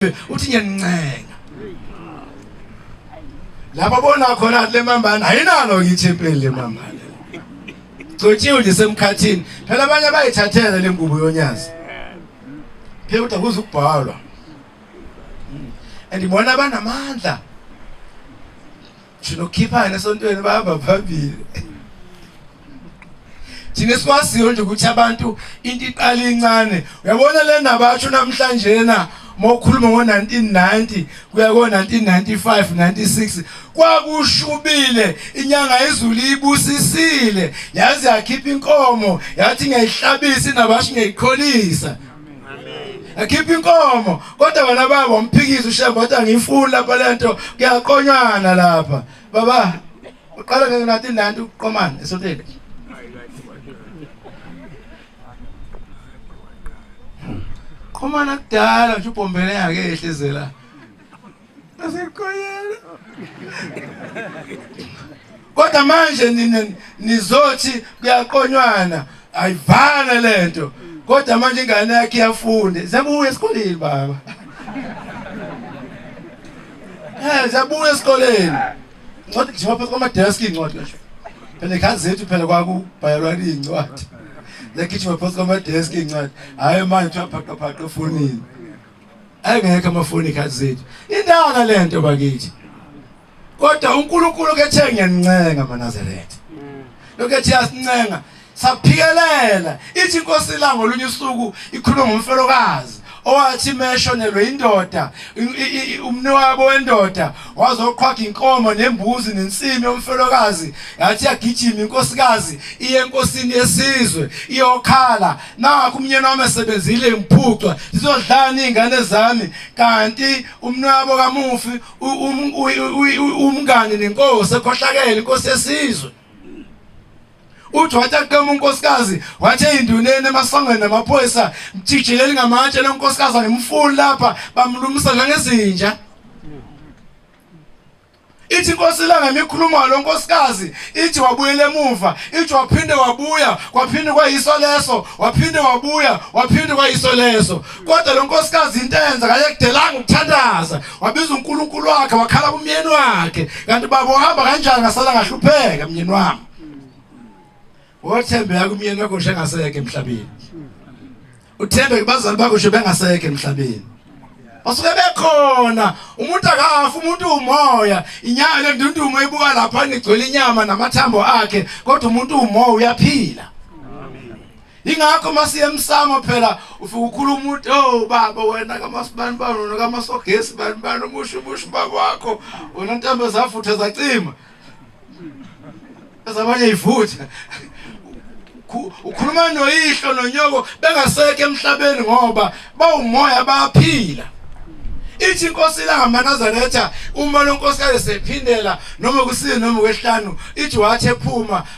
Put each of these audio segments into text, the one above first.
uthi ngiyancenga lapho bona khona le mambana ayinalo ngithempeli le mambana gcotshiwe nje semkhathini phela abanye abayithathela le ngubo yonyazi phela kodwa kuze ukubhalwa hmm. and bona banamandla Shino khiphana esontweni bahamba phambili. Thina sikwaziyo nje ukuthi abantu into iqala incane. Uyabona le ndaba yasho namhlanje na mokhuluma ngo-1990 kuya ko-1995 96 kwakushubile inyanga izulu ibusisile yaze yakhipha inkomo yathi ngiyayihlabisa inabasho ngiyayiqholisa ekhipha inkomo kodwa wena baba umphikisa ushembe wathi angiyifuni lapha lento kuyaqonywana lapha baba uqala ngeke nathi nanti uqomana esotheni qomana kudala nje ubhombele yake ehlizela Asiqoyela. Kodwa manje nina nizothi kuyaqonywana ayivale lento. Kodwa manje ingane yakhe iyafunde. Zabuya esikoleni baba. Eh zabuya esikoleni. Ncwadi nje phansi kwama desk incwadi ngisho. Phela ekhaya zethu phela kwakubhalwa incwadi. Lekhishwa phansi kwama desk incwadi. Hayi manje uthiwa phaqaphaqa efonini. engekho amafoni ikhathi zethu indaka le nto bakithi kodwa uNkulunkulu kethe ngiyanincenga manazaretha lokho ethi yasincenga saphikelela ithi inkosi la ngolunye usuku ikhuluma ngomfelokazi owathi meshonelwe indoda umniwabo wendoda wazoqhwaga inkomo nembuzi nensimi yomfelokazi yathi yagijima inkosikazi iye enkosini yesizwe iyokhala nakho umnyeni wami esebenzile imphucwa zizodlani izingane zami kanti umnwabo kamufi umngani nenkosi ekhohlakele inkosi yesizwe uthi wathi aqema unkosikazi wathi eyinduneni emasangweni namaphoyisa mjijileli ngamatshe lenkosikazi angimfuni lapha bamlumisa njengezinja Ithi inkosi ilanga mikhuluma lo nkosikazi ithi wabuyela emuva ithi waphinde wabuya kwaphinde kwayiso leso waphinde wabuya waphinde kwayiso leso kodwa lo nkosikazi into enza kayekudelanga ukuthandaza wabiza uNkulunkulu wakhe wakhala kumyeni wakhe kanti baba uhamba kanjani ngasala ngahlupheka myeni wami Wothembeka kumyeni wakho nje engaseke emhlabeni. Uthembeke bazali bakho nje bengaseke emhlabeni. Basuke bekhona umuntu akafa umuntu umoya inyama le ndundumo ibuka lapha ngigcwele inyama namathambo akhe kodwa umuntu umoya uyaphila. Ingakho masiye emsamo phela ufika ukhuluma umuntu oh baba wena kamasibani bani wena kamasogesi bani bani umusho umusho baba wakho wena ntambo zafutha zacima ezabanye ivutha ukhuluma noyihlo nonyoko bengasekho emhlabeni ngoba bawumoya bayaphila ithi inkosi ilangamanazaretha uma lonkosikazi sephindela noma kusini noma kwehlanu ithi wathi ephuma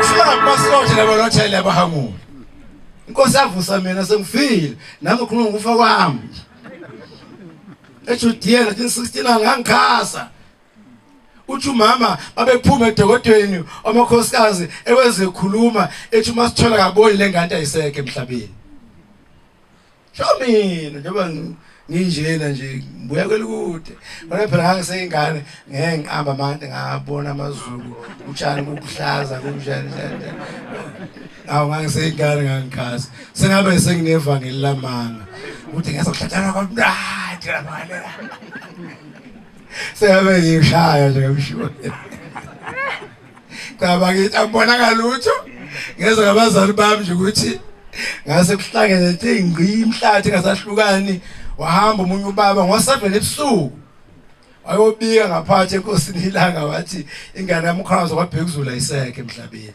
Uhlakwasothi labo lothele abahamule. Inkosi avusa mina sengifile nami ukhuluma ngokufa kwami. eJudiya 1916 ngangikhasa uthi umama babephuma edokodweni amakhosikazi ewezekhuluma ethi uma sithola kaboni lengane ayisekho emhlabeni Sho mina njengoba nginjena nje ngibuya kwelukude ngona phela ngangiseyingane ngeke ngiqamba amande ngabona amazulu utshani kukuhlaza kunjani njani awu ngangiseyingane ngangikhazi sengabe senginevangeli lamanga ukuthi ngiyazokuhlathana kwamnandi labalela sengabe ngishaya nje ngamshona cha bakithi angibonanga lutho ngeze ngabazali bami nje ukuthi ngase kuhlangene thi ngqi imhlathi ngasahlukani wahamba umunye ubaba ngosavele ebusuku wayobika ngaphathi enkosini ilanga wathi ingane yami ukhona zokwaphekuzula iseke emhlabeni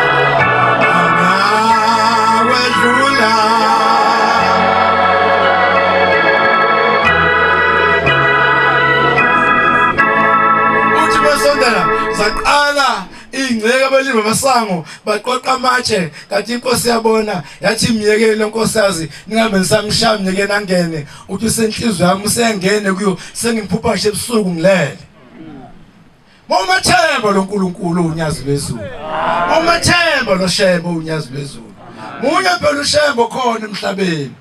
abalimi bamasango baqoqa amatshe kanti inkosi yabona yathi myekele nkosazi ningabe nisamshaya myekeni angene uthi usenhlizwe yami usengene kuyo sengimphupha nje ebusuku ngilele Mawumethemba loNkulunkulu unyazi lwezulu. Mawumethemba loShembe unyazi lwezulu. Munye phela uShembe khona emhlabeni.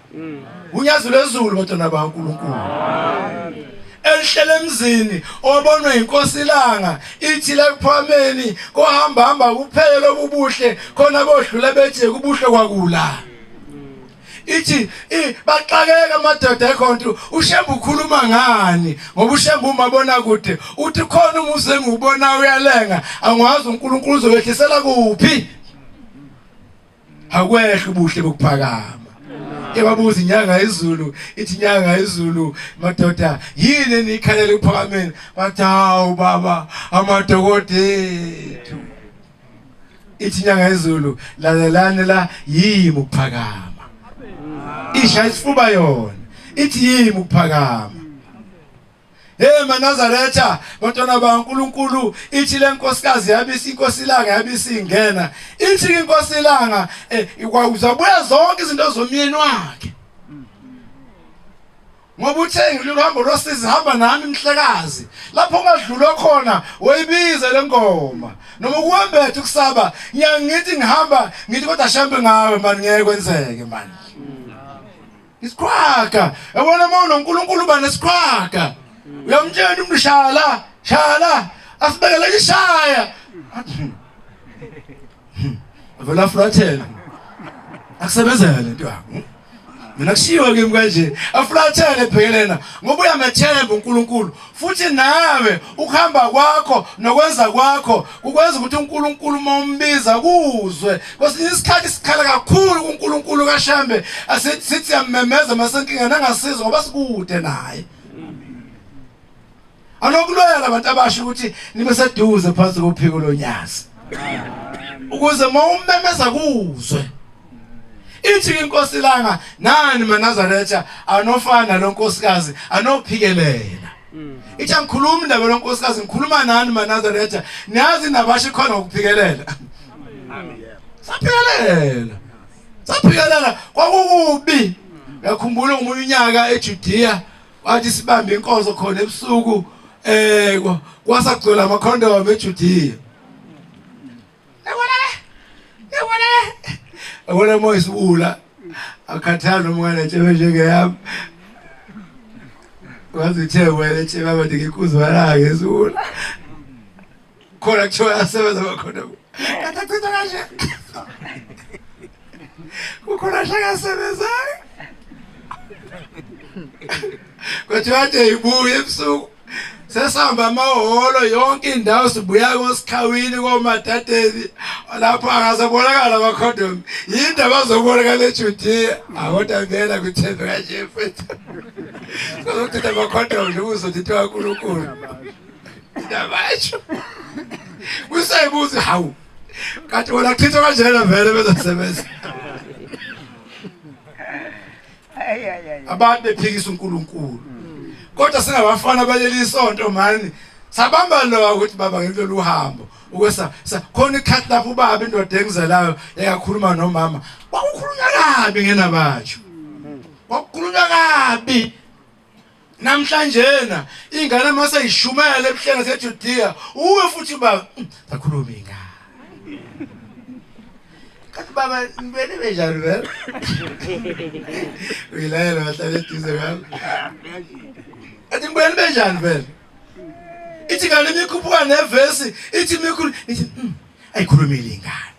Unyazi lwezulu batona baNkulunkulu. Elihlele emzini obonwe inkosi ilanga ithi la kuphwameni kohamba hamba kuphele lobubuhle khona bodlula bethi kubuhle kwakula. ithi baxakeka amadoda ekhonto ushembe ukhuluma ngani ngoba ushembe umabona kude uthi khona umuzi engiwubona uyalenga angiwazi uNkulunkulu uzokwehlisela kuphi akwehla ubuhle bokuphakama ebabuza inyanga izulu ithi inyanga izulu madoda yini enikhalela ukuphakameni bathi hawu baba amadokodethu ithi inyanga yezulu lalelani la yimi ukuphakama isha isifuba yona ithi yimi ukuphakama Hey manazaretha bantwana baNkuluNkulu ithi lenkosikazi yabisi inkosi langa yabisi ingena ithi inkosi langa eh, ikwakuzabuya zonke izinto zomyeni wakhe ngoba uthe ngililo hambo losizi hamba nami mhlekazi lapho ungadlulwa khona woyibize le ngoma noma ukuwembetha ukusaba ngiyangithi ngihamba ngithi kodwa shambe ngawe mani ngeke kwenzeke mani isiqhwaga yabona uma unonkulunkulu uba nesiqhwaga uyamtshela umuntu shala shala asibekele ishaya Hmm. Avela afulathele. Akusebenzele lento yakho. Hmm? Mina kushiwo kimi kanje, afulathele bhekelena ngoba uyamethemba uNkulunkulu futhi nawe ukuhamba kwakho nokwenza kwakho ukwenza ukuthi uNkulunkulu uma umbiza kuzwe. Kwesinye isikhathi sikhala kakhulu kuNkulunkulu kaShembe, asithi sithi yamemeza masenkinga nangasizwa ngoba sikude naye. anokuloya labantu abasho ukuthi nibe seduze phansi kophiko lonyazi ukuze mawumemeza kuzwe ithi inkosi langa nani manazaretha anofana lo nkosikazi anophikelela mm. ithi angikhuluma indaba lo nkosikazi ngikhuluma nani manazaretha niyazi nabasho khona ukuphikelela amen saphikelela saphikelela kwakukubi ngakhumbula umunye unyaka eJudea wathi sibambe inkonzo khona ebusuku eh kwasagcwela ama condom eJudiya yabona le yabona le yabona moya isiwula akhathana umngane nje njengeyami wazithe wena nje baba ndikikuzwa la ngezula khona kuthiwa yasebenza bakhona kade achitha kanje kukhona shakasebenzayo kwathiwa ade ibuye ebusuku sesihamba amahholo yonke indawo sibuya kosikhawini komadadeni lapho angasebonakala amakhondom yinto abazobonakala ejudiya akodwa vela kwithembe kanje mfethu sizochitha amakhondom nje kuzothithwa kankulunkulu Ndabasho. Kusebuzi hawu. Kanti wena chitha kanjena vele bezasebenza. Abantu bephikisa uNkulunkulu. Kodwa singabafana baleli sonto mani sabamba lo ukuthi baba ngilolu uhambo ukwesa khona ikhathi lapho ubaba indoda engizelayo yakakhuluma nomama kwakukhulunywa kabi ngenabatsho kwakukhulunywa kabi Namhlanjena ingane mase ishumela ebuhleni seJudiya uwe futhi uba hmm, bakhuluma ingane. Kanti baba nibene benjani vele? Uyilayela bahlale eduze kwami. Athi nibene benjani vele? Ithi kanti imikhuphuka nevesi ithi imikhulu ithi hmm, ayikhulumile ingane.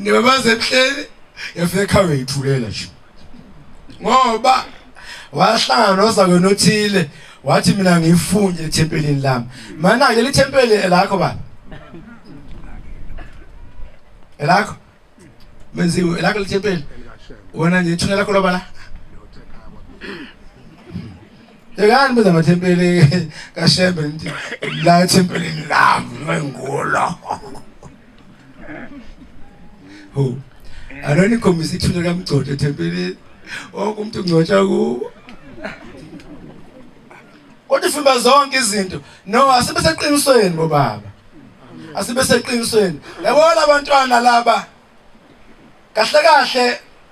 ngibabaze ebuhleni yafika ekhaya uyithulela nje ngoba wahlangana nozakwenu othile wathi mina ngifunde ethempelini lami mana ke lithempeli elakho baba elakho menziwe elakho lithempeli wena nje ithuna lakho loba la Yekani benza amathempeli kaShembe ngithi la ethempelini lami ngengulo ho anani khombisa ithuna kamgcodo thempelini wonke umuntu ungcotsha kuwo kodwa ifuna zonke izinto no asibe seqinisweni bobaba asibe seqinisweni yabona abantwana laba kahle kahle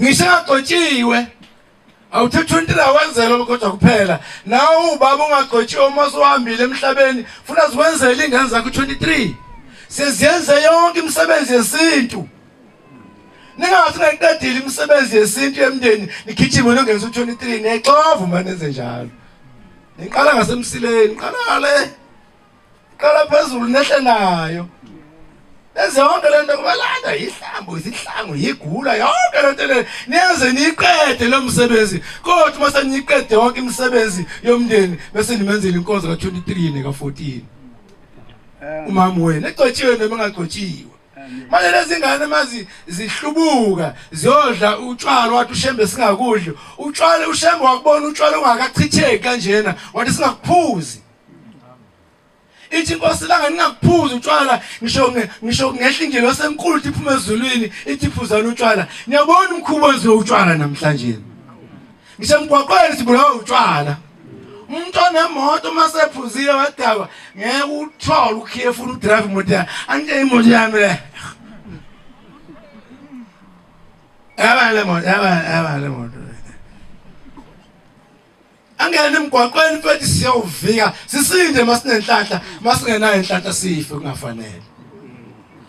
ngisho agcotshiwe awuthetha untila wenzela kodwa kuphela nawe ubaba ungagcotshiwe uma usuhambile emhlabeni funa zikwenzela iy'ngane zakho 23 seziyenze yonke imisebenzi yesintu ningathi nayiqedile imisebenzi yesintu yemndeni nigijime nongenza u-23 niyayixova uma nenze njalo niqala ngasemsileni niqala le qala phezulu nehle nayo Enze yonke lento kubalanda yihlambo izihlangu yigula yonke lento le niyenze niqede lo msebenzi kodwa uma seniqede yonke imisebenzi yomndeni bese nimenzela inkonzo ka 23 neka 14 eh. umama wena egcotshiwe noma engagcotshiwe manje lezi ngane mazi zihlubuka ziyodla utshwala wathi ushembe singakudli utshwala ushembe wakubona utshwala ungakachitheki kanjena wathi singakuphuzi ithi inkosi langa ningakuphuza utshwala ngisho ngisho ngehla indlela osenkulu ithi phuma ezulwini ithi phuzana utshwala niyabona umkhubo wenziwe utshwala namhlanje ngisemgwaqweni sibulawa utshwala umuntu onemoto uma sephuzile wadakwa ngeke uthole ukhiye funa udrive imoto yakhe anike imoto yami le yaba le moto yaba yaba le moto angene emgwaqweni mfethu siyawuvika sisinde masinenhlanhla masingenayo inhlanhla sife kungafanele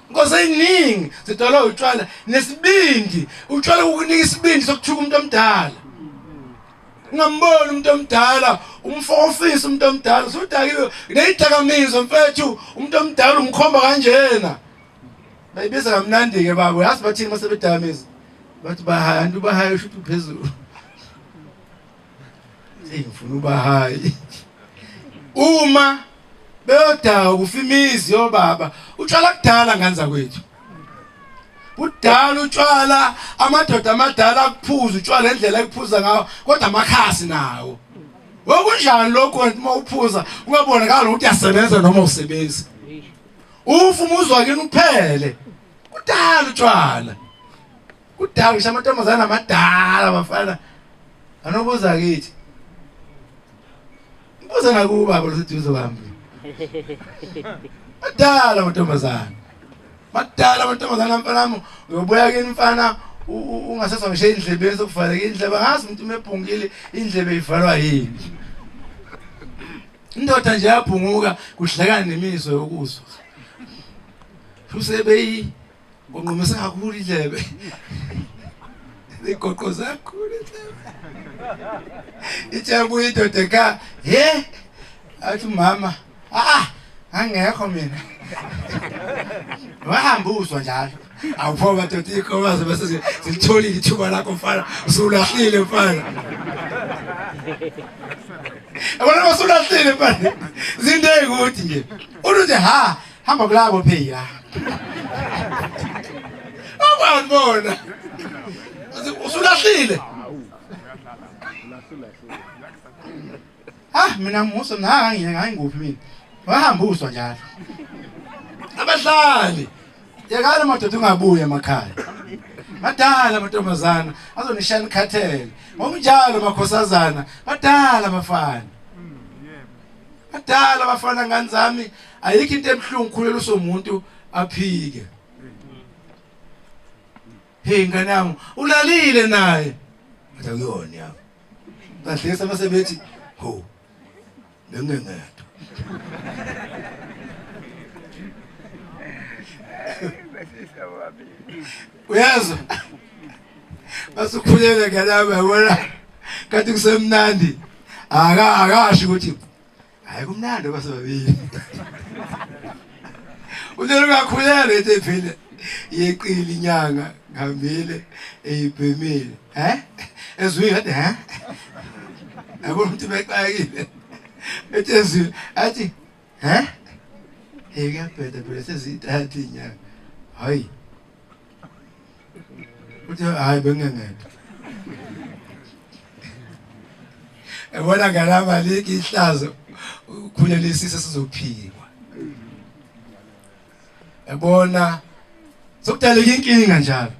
inkosi eyiningi zidalwa utshwala nesibindi utshwala ukunika isibindi sokuthuka umuntu omdala ungamboni umuntu omdala umfo ofisa umuntu omdala usudakiwe neyidakamizwa mfethu umuntu omdala umkhomba kanjena bayibiza kamnandi-ke babo yazi bathini uma sebedakamiza bathi bahaya nto ubahaya usho ukuthi uphezulu ngifuna uba hayi uma beyodaka kufa imizi yobaba utshwala kudala ngane zakwethu kudala utshwala amadoda amadala akuphuza utshwala endlela ekuphuza ngawo kodwa amakhasi nawo wokunjani lokho uma uphuza ungabonakala ukuthi uyasebenza noma usebenzi ufa umuzwa kini uphele kudala utshwala Kudala ngisho amantombazane amadala abafana anobuza kithi. Ngibuza nakuba boluseduze kwami. Madala amantombazane. Madala amantombazane mfanami uyobuya kini mfana ungasezwa ngisho endlebeni sokuvaleka indlebe ngazi umuntu umebhungile indlebe ivalwa yini. Indoda nje yabhunguka kuhlekana nemizwa yokuzwa. Usebeyi Ngonqumisa kakhulu indlebe. Igoqoza kakhulu indlebe. Itshabu indoda ka, "He? Athi mama, ah, angekho mina." Wahamba uzwa njalo. Awuphoba dothi ikhobaze bese silitholile ithuba lakho mfana, usulahlile mfana. Yabona usulahlile mfana. Zinde ukuthi nje. Uthi ha, Hamba kulabo phela. Awubona. Usulahlile. Ah mina muso nanga ngiyena ngayinguphi mina. Wahamba uswa njalo. Abahlali. Yekala madoda ungabuye emakhaya. Badala amantombazana azonishaya ikhathele. Ngokunjalo makhosazana badala bafana. Adala bafana ngani zami ayikho into emhlungu khulelo somuntu aphike. Hey ngane yami ulalile naye. Ngathi akuyona yami. Kahle sebethi ho bengengedwa. uyezwa basukhulele ngelama yabona kanti kusemnandi aka akasho ukuthi hayi kumnandi basebabili uthela ungakhulele ethi phile yeqili inyanga ngihambile eyibhemile he ezwile athi he yabona ukuthi bexakile ethi ezwile athi He? Hey kuyabheda phela sezithatha inyanga. Hayi. Uthi hayi bengengedwa. Ebona ngalama liki ihlazo ukhulelisisa sizophikwa. yabona sokudaleka inkinga njalo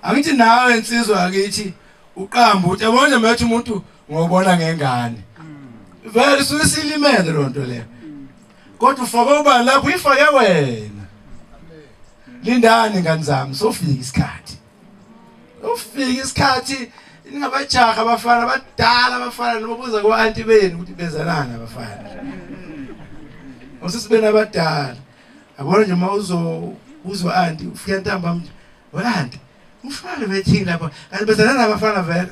angithi nawe insizwa akithi uqamba uthi yabona nje manje umuntu ngobona ngengane vele susilimele lonto leyo kodwa ufake ubani lapho uyifake wena lindani ngani zami sofika isikhathi ufika isikhathi ningabajaha abafana abadala abafana noma buza ku-anti benu ukuthi benzelani abafana usisi benu abadala yabona nje uma uzokuzwa anti ufika ntambam nje we-anti umfana bethini lapha kanti bezalana abafana vele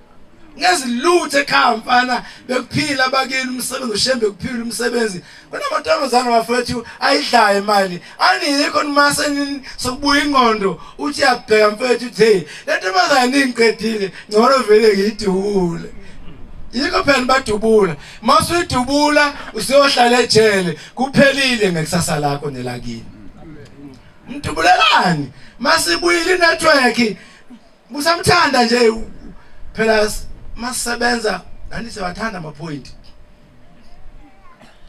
ngeziluthe ekhaya mfana bekuphila bakini umsebenzi ushembe kuphila umsebenzi kunamantombazane wafethu ayidlayo imali aniyikho nimase sokubuya ingqondo uthi yabheka mfethu uthi hey le ntombazane ningiqedile ngcono vele ngiyidubule yikho phela badubula masuyidubula usiyohlala ejele kuphelile ngekusasa lakho nelakini mdubulelani masibuyile inetwork Kusamthanda nje phela masebenza nani siyawathanda ama point.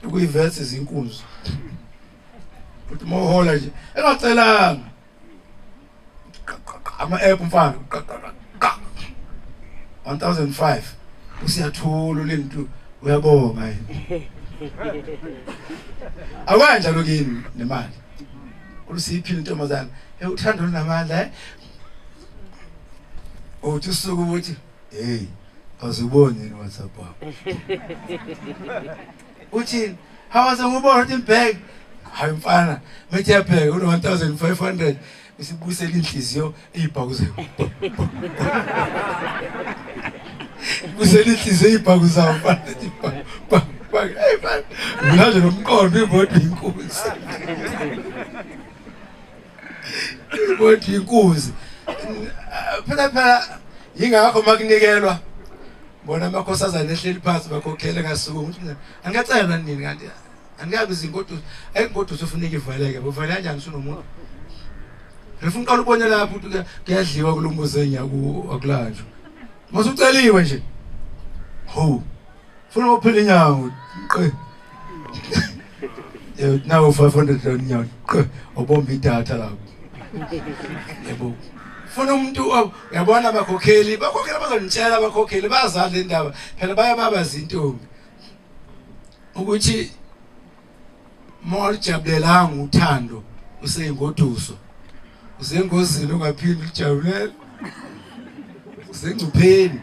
Ukuyivesa izinkunzi. Futhi mohola nje engacelanga. Ama app mfana. 1005 usiyathula ulintu uyabonga yini. Akwanja lokini nemali. Ulusiphile intombazana. Hey uthando lunamandla eh. uthi usuku ukuthi hey aziboni yini whatsapp wakho uthini hawaze ngubona ukuthi ngibheke hayi mfana methi yabheka une 1500 isibusela inhliziyo eyibhakuze busela inhliziyo eyibhaku zawo mfana ethi bha bha bha hey mfana mina nje nomqondo imoto inkunzi Kodwa inkunzi. Phela phela yingakho makunikelwa bona amakhosazana ehleli phansi bakhokhele kasuku ukuthi angacela nini kanti angikabi izingoduso ayingoduso ufuneka ivaleke bovala kanjani usunomuntu ngifuna uqala ubone lapho ukuthi kuyadliwa kulumbuzo enyaku akulanjwa masuceliwe nje ho funa uphila inyawo qe eh, nawo 500 rand inyawo qe obomba idatha lapho yebo funa umuntu uyabona abakhokheli bakhokhela bazonitshela abakhokheli bazali indaba phela baye baba zintombi ukuthi mawulijabulelanga uthando useyingoduso usengozini ungaphinde ulijabulela usengcupheni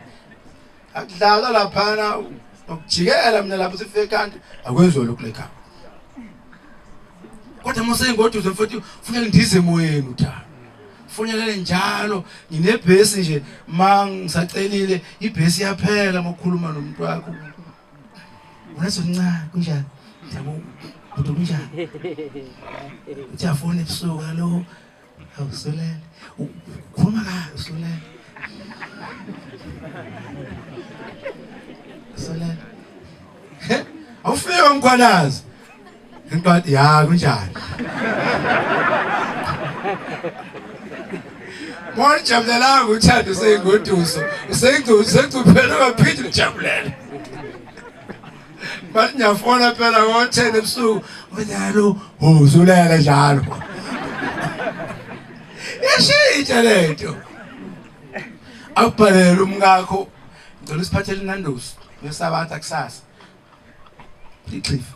akudlalwa laphana nokujikela mina lapho sife kanti akwenziwa lokhu lekhaya kodwa musengoduze futhi funeka ndize emoyeni uthando funelele njalo nginebhesi nje ma ngisacelile ibhesi yaphela mokhuluma nomuntu wakho unezoncane kunjani ndiyabona bhuti kunjani uthi afone ebusuku alo Hawu Solani, ukhuluma kahle Solani. Solani. He? Awufike mkhwanazi. Intokazi ya kunjani? Mona jabulelanga uthando usengoduso. Usengoduso usengoduso uphela baphinde ujabulela. bathi ngiyafona phela ngo-ten ebusuku unyalo uzulele njalo yashintsha le nto akubhalele umkakho ngicela usiphathele inandosi ngesabatha kusasa ixhifa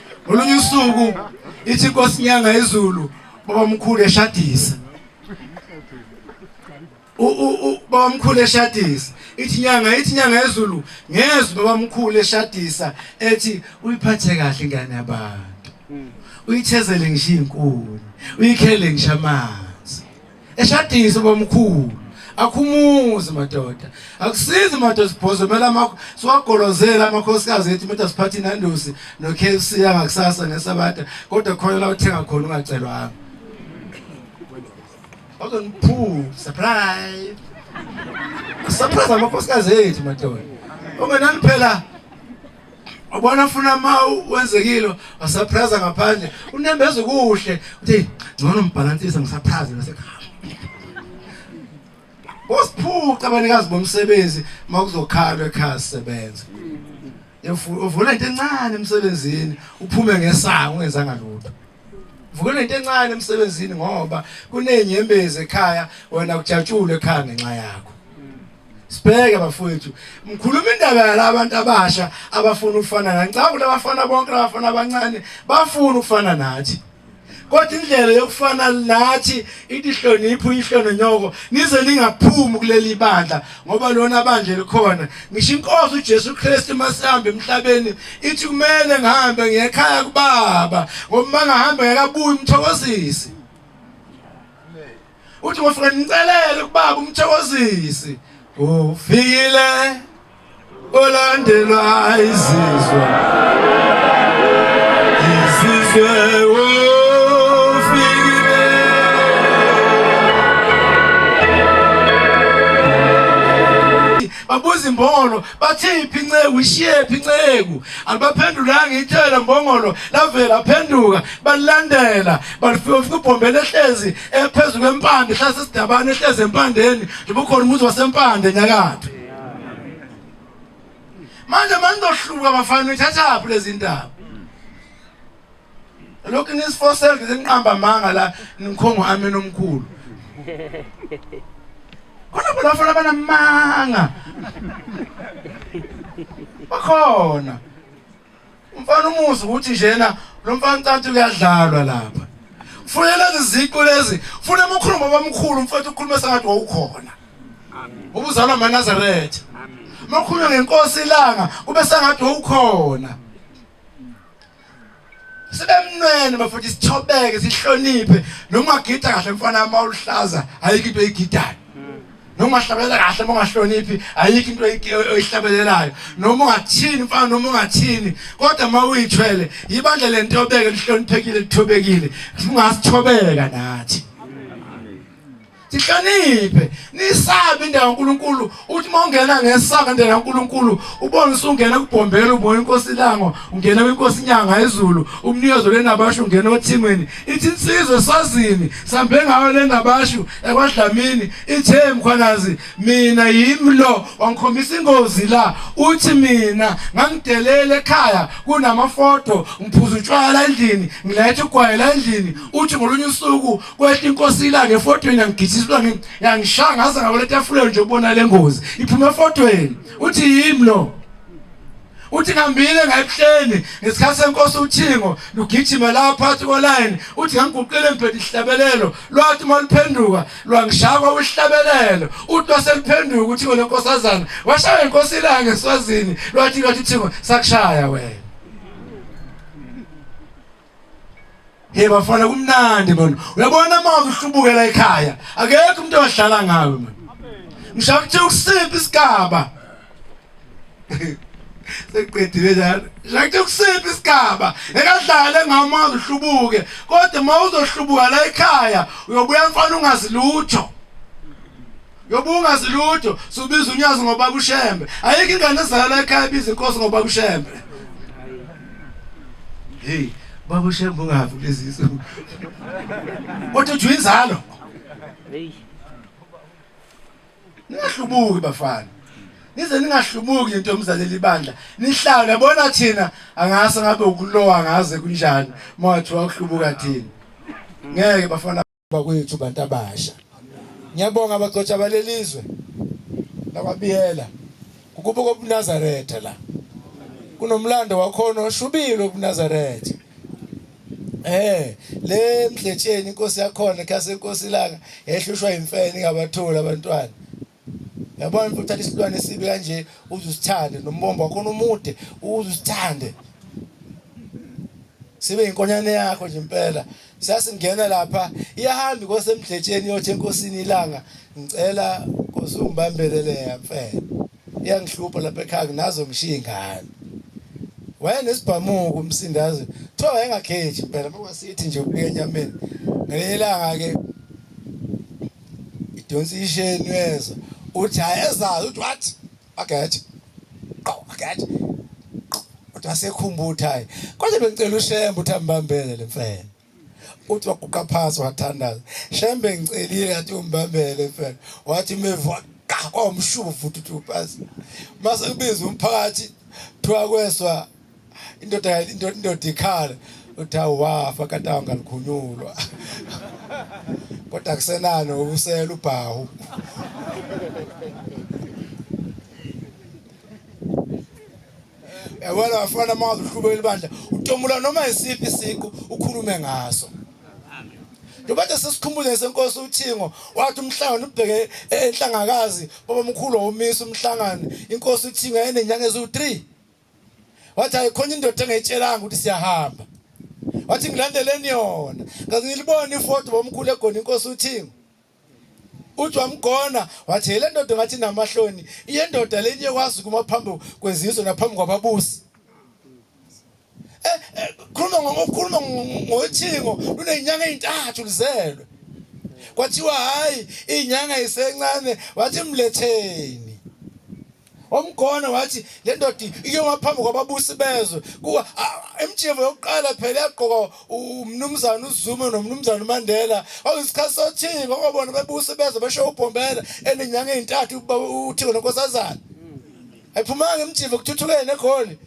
ngolunye usuku ithi inkosi nyanga yezulu baba mkhulu eshadisa baba mkhulu eshadisa ithi nyanga ithi nyanga yezulu ngezwe baba mkhulu eshadisa ethi uyiphathe kahle ingane yabantu uyithezele ngisho inkuni uyikhele ngisho amanzi eshadise bomkhulu akhumuzi madoda akusizi madoda sibhozo kumele amakho siwagolozele amakhosikazi ethu umuntu asiphathe inandusi no-kfc yangakusasa ngesabata kodwa khona la uthenga khona ungacelwanga bazoniphu surprise surprise amakhosikazi ethu madoda ungenani phela Ubona funa ma wenzekile wasaphraza ngaphandle unembeza kuhle uthi ngcono mbhalansisa ngisaphraze nasekhaya. Usiphuca abanikazi bomsebenzi makuzokhalwa ekhaya sebenza. Uvula into encane emsebenzini uphume ngesango ungenzanga lutho. Vukela into encane emsebenzini ngoba kunenyembezi ekhaya wena kujatshulwe ekhaya ngenxa yakho. Sibheke bafowethu, ngikhuluma indaba yalabo bantu abasha abafuna ukufana nathi. Ngicabanga ukuthi abafana bonke abafana abancane bafuna ukufana nathi. Kodwa indlela yokufana nathi ithi hlonipho ihlone nyoko nize ningaphumi kuleli bandla ngoba lona bandla elikhona. Ngisho inkosi uJesu Kristu masihamba emhlabeni ithi kumele ngihambe ngekhaya kubaba ngoba mangahamba ngakabuyi umthokozisi. uthi ngofika nicelele kubaba umthokozisi ufikile olandelwa izizwe izizwe babuza imbongolo bathiphi inceku ishiyephi inceku alibaphendulanga ithela mbongolo lavela phenduka balilandela balifika ufika ubhombela ehlezi ephezulu kwempande hlase sidabane ehlezi empandeni njengoba ukhona umuzi wasempande nyakatho manje manizohluka bafana nithathaphi lezi ndaba lokhu nisifosele ngize niqamba amanga la ningikhongo ameni omkhulu khona bona bafana abanamanga bakhona Umfana umuzi ukuthi njena lo mfana ucantu kuyadlalwa lapha. Kufuneka lezi ziqu lezi, kufuneka umkhulumo obamkhulu mfowethu ukhulume sengathi wawukhona. Amen. Ubuzalwa amaNazaretha. Amen. Makhulume ngenkosi ilanga, kube sengathi wawukhona. sibemnwene bafuthi sithobeke sihloniphe noma ugida kahle mfana uma uluhlaza ayikho into eyigidayo noma ungahlabelela kahle uma ungahloniphi ayikho into oyihlabelelayo noma ungathini mfana noma ungathini kodwa uma uyithwele yibandla lento yobeke lihloniphekile lithobekile ungasithobeka nathi sihloniphe nisabe indawo kaNkuluNkulu uthi uma ungena ngesaka indawo kaNkuluNkulu ubone usungena kubhombela ubona inkosi lango ungena kwinkosi inyanga ezulu umnikezo lenabasho ungena othimweni ithi insizwe sazini sambe ngayo le ngabashu ekwadlamini ithe mkhwanazi mina yimi lo wangikhombisa ingozi la uthi mina ngangidelele ekhaya kunamafoto ngiphuza utshwala endlini ngilethe ugwayela endlini uthi ngolunye usuku kwehla inkosi ilanga efotweni yangigijiswa yangishaya ngaze ngaboletafuleni nje ubona le ngozi iphuma efotweni uthi yimi lo uthi ngihambile ngayebuhleni ngesikhathi senkosi uthingo lugijima la phakathi kolayini uthi ngangiguqile emphethe ihlabelelo lwathi uma luphenduka lwangishakwa uhlabelelo uthi waseluphenduka ukuthi ngone nkosazana washaya inkosi ilanga ngeswazini lwathi lwathi thingo sakushaya wena Hey bafana kumnandi manje. Uyabona manje uhlubukela ekhaya. Akekho umuntu owadlala ngawe manje. Ngishaka ukuthi ukusiphi isigaba. Seqedile njalo. Ngishaka ukuthi ukusiphi isigaba. Ekadlale ngamazi uhlubuke. Kodwa uma uzohlubuka la ekhaya uyobuya mfana ungazi lutho. Yoba ungazi lutho subiza unyazi ngoba kushembe. Ayikho ingane ezalwa ekhaya biza inkosi ngoba kushembe. Hey, baba ushembe ungavi kulezi izinto. Kodwa uthi inzalo. Hey. Ningahlubuki bafana. Nize ningahlubuki into yomzaleli ibandla. Nihlawule bona thina angase ngabe ukulowa ngaze kunjani. Mawathiwa ukuhlubuka thina. Ngeke bafana bakwethu bantu abasha ngiyabonga abagcotshwa balelizwe lababiyela ukubuka obunazaretha la kunomlando wakhona oshubile obunazaretha Eh le mdletsheni inkosi yakhona khase inkosi ilanga ehlushwa imfene ingabatholi abantwana Yabona mfuthu uthatha isilwane esibi kanje uze usithande nombombo wakhona umude uze usithande. Sibe inkonyane yakho nje impela. Sasingena lapha iyahamba inkosi emdletsheni yothi enkosini ilanga ngicela nkosi ungibambelele yamfela. Iyangihlupha lapha ekhaya nazo ngishiya ingane. wayenesibhamuko umsindazi kuthiwa wayengakhethi impela ngoba sithi nje ukuya enyameni ngelinye ilanga-ke idonsa isheni uyezwa uthi ayezazi uthi what ageje qo ageje uthi asekhumbutha hayi konje bengicela ushembe uthi ambambele lemfene uthi waguqa phansi wathandaza shembe ngicelile yathi umbambele mfene wathi mevwa kwamshuvu futhi uthi upasi mase kubiza umphakathi thiwa kweswa indoda indoda ikhala uthi awafa kanti awungalikhunyulwa kodwa kusenani ubusela ubhawu yabona wafana uma uqhubeka ibandla utomula noma isiphi siqu ukhulume ngaso Ndobathe sesikhumbuze senkosi uthingo wathi umhlangano ubheke enhlangakazi baba mkhulu womisa umhlangano inkosi uthingo enenyanga eziwu 3 wathi ayikhona indoda engayitshelanga ukuthi siyahamba wathi ngilandeleni yona ngaze ngilibone ifoto bomkhulu egona inkosi uthingo uthi wamgona wathi yile ndoda ngathi namahloni iyendoda le niyekwazi kuma phambi kwezizwe naphambi kwababusi eh, eh khuluma ngokukhuluma ngothingo lunezinyanga ezintathu lizelwe kwathiwa hayi inyanga isencane wathi mletheni wamgona wathi le ndoda iyoma phambi kwababusi bezwe kuwa emjimbo yokuqala phela yagqoka umnumzana uZuma nomnumzana uMandela awuyisikhathi sothini ngokwabona bebusi bezwe besho ubhombela enenyanga ezintathu uthiko nonkosazana ayiphumanga emjimbo kuthuthuke negoli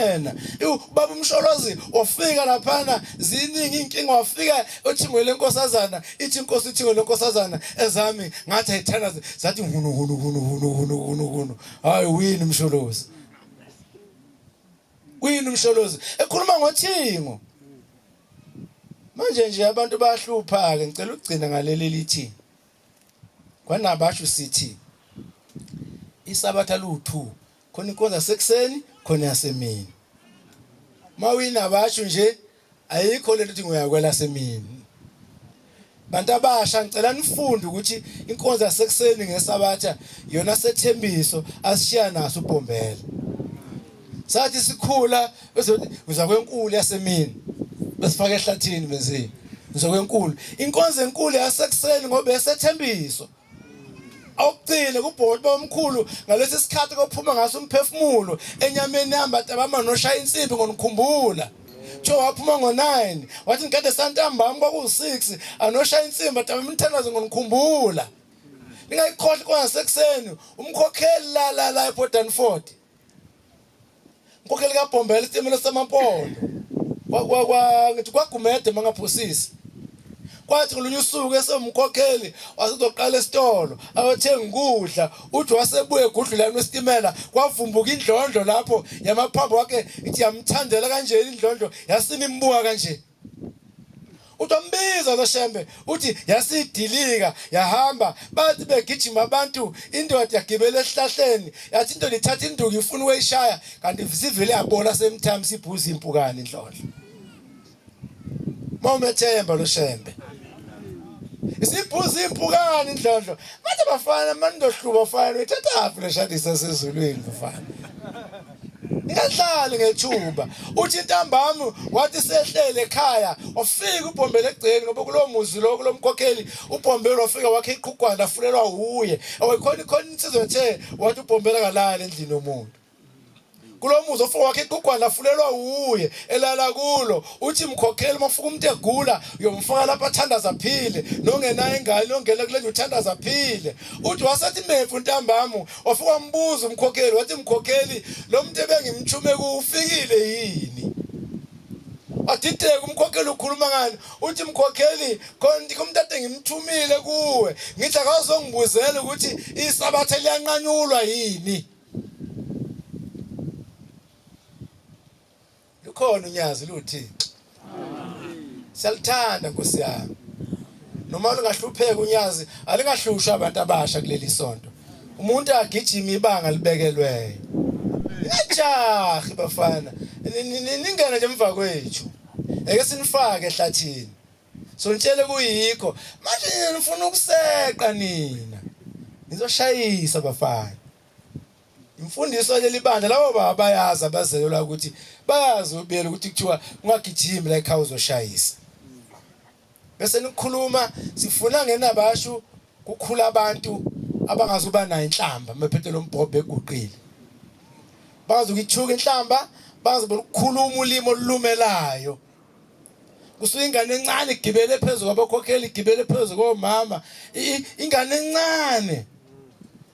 yena ubaba umsholozi wafika laphana ziningi inkinga wafika othingwe lenkosazana ithi inkosi ithingo lenkosazana ezami ngathi ayithanda zathi hunu hunu hunu hunu hunu hunu hunu hayi wini umsholozi wini umsholozi ekhuluma ngothingo manje nje abantu bayahlupha ke ngicela ukugcina ngaleli lithi Kwanabasho sithi isabatha liwu-two khona inkonzo yasekuseni khona yasemini. Uma uyinabasho nje ayikho lento ukuthi ngoyakwela semini. Bantu abasha ngicela nifunde ukuthi inkonzo yasekuseni ngesabatha yona sethembiso asishiya naso uBhombela. Sathi sikhula bese uthi ngiza kwenkulu yasemini besifaka ehlathini benzeni ngiza kwenkulu inkonzo enkulu yasekuseni ngoba esethembiso awugcine kubhoti bomkhulu ngalesi sikhathi kophuma ngaso umphefumulo enyameni yamba tabama noshaya insimbi ngonikhumbula kuthiwa waphuma ngo-9 wathi ngikade santambami kwakuwu-6 anoshaya insimba daba imthandazo ngonikhumbula ningayikhohlwa kwasekuseni umkhokheli la la la ebodani 40 Nkokheli ka Bombela isitimela samampondo. Kwa kwa kwa ngithi kwagumede mangaphosisi. Kwathi ngolunye usuku esewumkhokheli wasezoqala esitolo ayothenga ukudla uthi wasebuye egudlulani wesitimela kwavumbuka indlondlo lapho yamaphambo wakhe ithi yamthandela kanjena indlondlo yasina imbuka kanje utombiza loshembe uthi yasidilika yahamba bathi begijima abantu indoda yagibela esihlahleni yathi indoda ithatha induku ifuna ukuyishaya kanti sivele yabona same time sibhuza impukane indlondlo mawumethemba loshembe isibhuza impukane indlondlo bathi bafana manje ndohluba fana uyithathaphi leshadisa sezulwini mfana ngingahlali ngethuba uthi intambama wathi sehlele ekhaya ofika ubhombele egceni ngoba kulowo muzi lo kulo mkhokheli ubhombele wafika wakhe iqhugwana afulelwa wuye awayikhona ikhona insizwa ethe wathi ubhombele akalali endlini yomuntu kulo muzi ofika wakhe iqugwana afulelwa wuye elala kulo uthi mkhokheli uma ufika umuntu egula uyomfaka lapho athandaza aphile nongenayo ingane ongena kule nje uthandaza aphile uthi wasethi mefu ntambama wafika wambuza umkhokheli wathi mkhokheli lo muntu ebengimthume kuwo ufikile yini wadideka umkhokheli ukhuluma ngani uthi mkhokheli konti umuntu ade ngimthumile kuwe ngithi akazongibuzela ukuthi isabatha liyanqanyulwa yini Lukhona unyazi luthixo. Siyaluthanda Nkosi yami. Noma lungahlupheka unyazi alingahlushwa abantu abasha kuleli sonto. Umuntu agijima ibanga libekelweyo. Nijahi bafana. Ningena nje emva kwethu. Eke sinifake ehlathini. So nitshele kuyikho. Manje nifuna ukuseqa nina. Nizoshayisa bafana. imfundiso yaleli bandla labo baba bayazi abazelelwa ukuthi bayazi ubiyela ukuthi kuthiwa ungagijimi la ekhaya uzoshayisa bese nikhuluma sifuna ngenabashu kukhula abantu abangazuba nayo inhlamba mephethe lombhobhe eguqile bazi ukithuka inhlamba bazi ukukhuluma ulimi olulumelayo kusuke ingane encane igibele phezulu kwabakhokheli igibele phezulu komama ingane encane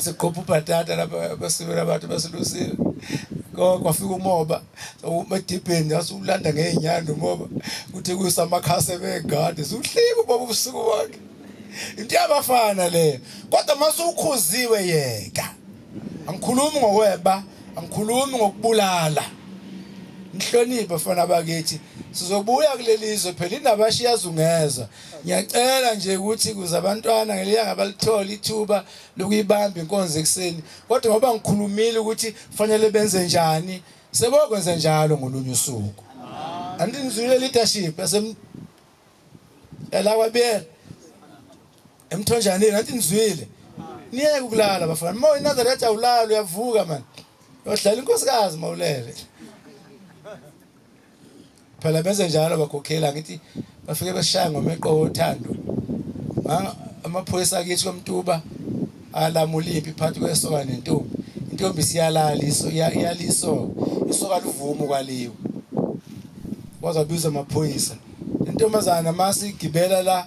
siqopha ubhatata lapha basibela abantu basilusile kwafika umoba umedibheni yasiwulanda ngey'nyanda umoba kuthi kuyisa amakhasi ebegade siwuhlika umoba ubusuku bonke into yabafana leyo kodwa uma suwukhuziwe yeka angikhulumi ngokweba angikhulumi ngokubulala ngihloniphe bafana bakithi sizobuya kuleli zwe phela indaba shiyazungeza ngiyacela nje ukuthi kuze abantwana ngeliyanga abalithole ithuba lokuyibamba inkonzo ekuseni kodwa ngoba ngikhulumile ukuthi kufanele benze njani sebokwenza njalo ngolunye usuku andinizwile leadership yasem yalakwabiyela emthonjaneni andinizwile niyeke ukulala bafana uma uyinazarete awulali uyavuka mani yodlala inkosikazi mawulele phela benze njalo bakhokhela ngithi bafike beshaya ngomeqo wothando amaphoyisa akithi komtuba alamula impi phakathi kwesoka nentombi intombi siyalala iso iyaliso isoka livumo kwaliwe wazabiza amaphoyisa intombazana masigibela la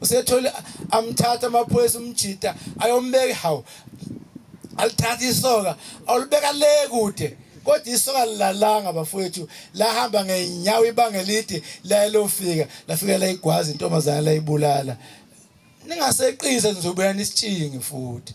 usethole amthatha amaphoyisa umjita ayombeka hawu alithatha isoka awulibeka le kude kodwa isoka lilalanga bafowethu lahamba ngeenyawo ibanga elide layelofika lafika layigwaza intombazana layibulala ningaseqise nizobuya nisitshinge futhi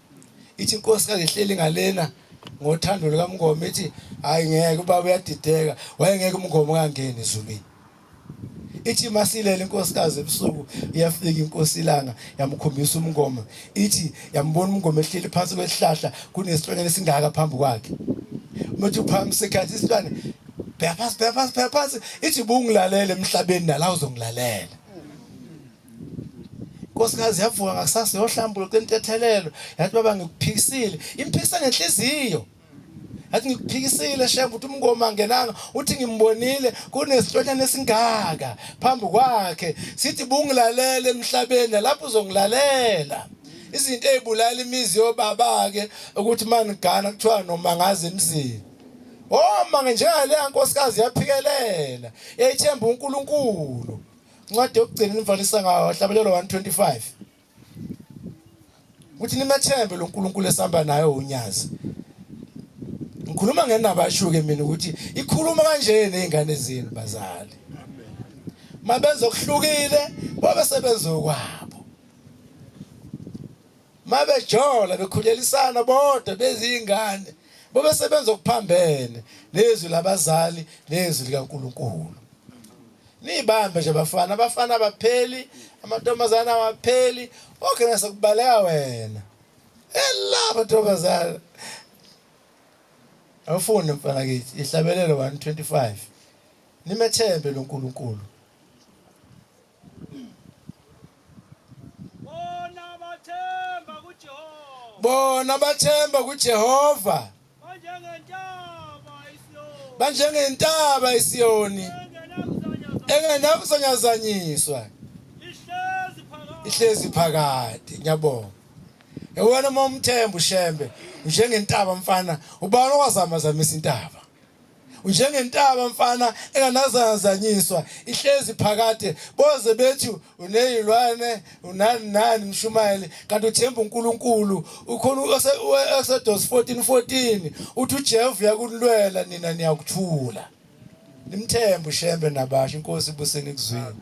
ithi inkosi kangihleli ngalena ngothando lukamngoma ithi hayi ngeke ubaba uyadideka wayengeke umngoma ungangeni ezulwini ithi masilela inkosikazi ebusuku iyafika inkosi ilanga yamkhombisa umngoma ithi yambona umngoma ehleli phansi kwesihlahla kunesilwane esingaka phambi kwakhe umuntu uphambi sekhathi isilwane bheka phansi bheka phansi bheka phansi ithi bungilalele emhlabeni nala uzongilalela inkosikazi yavuka ngakusasa yohlambululo cela intethelelo yathi baba ngikuphikisile imphikisa ngenhliziyo yathi ngikuphikisile shembe ukuthi umngoma angenanga uthi ngimbonile kunesitshonyana esingaka phambi kwakhe sithi bungilalele emhlabeni lapho uzongilalela izinto ezibulala imizi yobaba-ke ukuthi manigana kuthiwa noma ngazi emzini oma oh, njenga leya nkosikazi yaphikelela yayithemba uNkulunkulu Incwadi yokugcina nimvalisa ngayo hlabelelo 125. Ukuthi nimethembe lo Nkulunkulu esihamba naye unyazi. Ngikhuluma ngenaba ashuke mina ukuthi ikhuluma kanje nezingane zenu bazali. Mabenza okuhlukile babe sebenza okwabo. Mabejola bekhulelisana bodwa bezingane babe sebenza okuphambene nezwi labazali nezwi likaNkuluNkulu. Niyibambe nje bafana, abafana abapheli, amantombazane awapheli. Okay nase kubaleka wena. Ella mantombazane. Awufunde mfana kithi, ihlabelelo 125. Nimethembe loNkulunkulu. bona bathemba kuJehova banjengentaba isiyoni engenakuzonyazanyiswa ihlezi phakade ngiyabonga ewena uma umthemba ushembe njengentaba mfana ubani owazama zamisa intaba unjengentaba mfana enganazazanyiswa ihlezi phakade boze bethi uneyilwane unani nani mshumayeli kanti uthemba uNkulunkulu ukhona uExodus 14:14 uthi uJehova uyakulwela nina niyakuthula nimthembe ushembe nabasho inkosi ibuseni kuzwini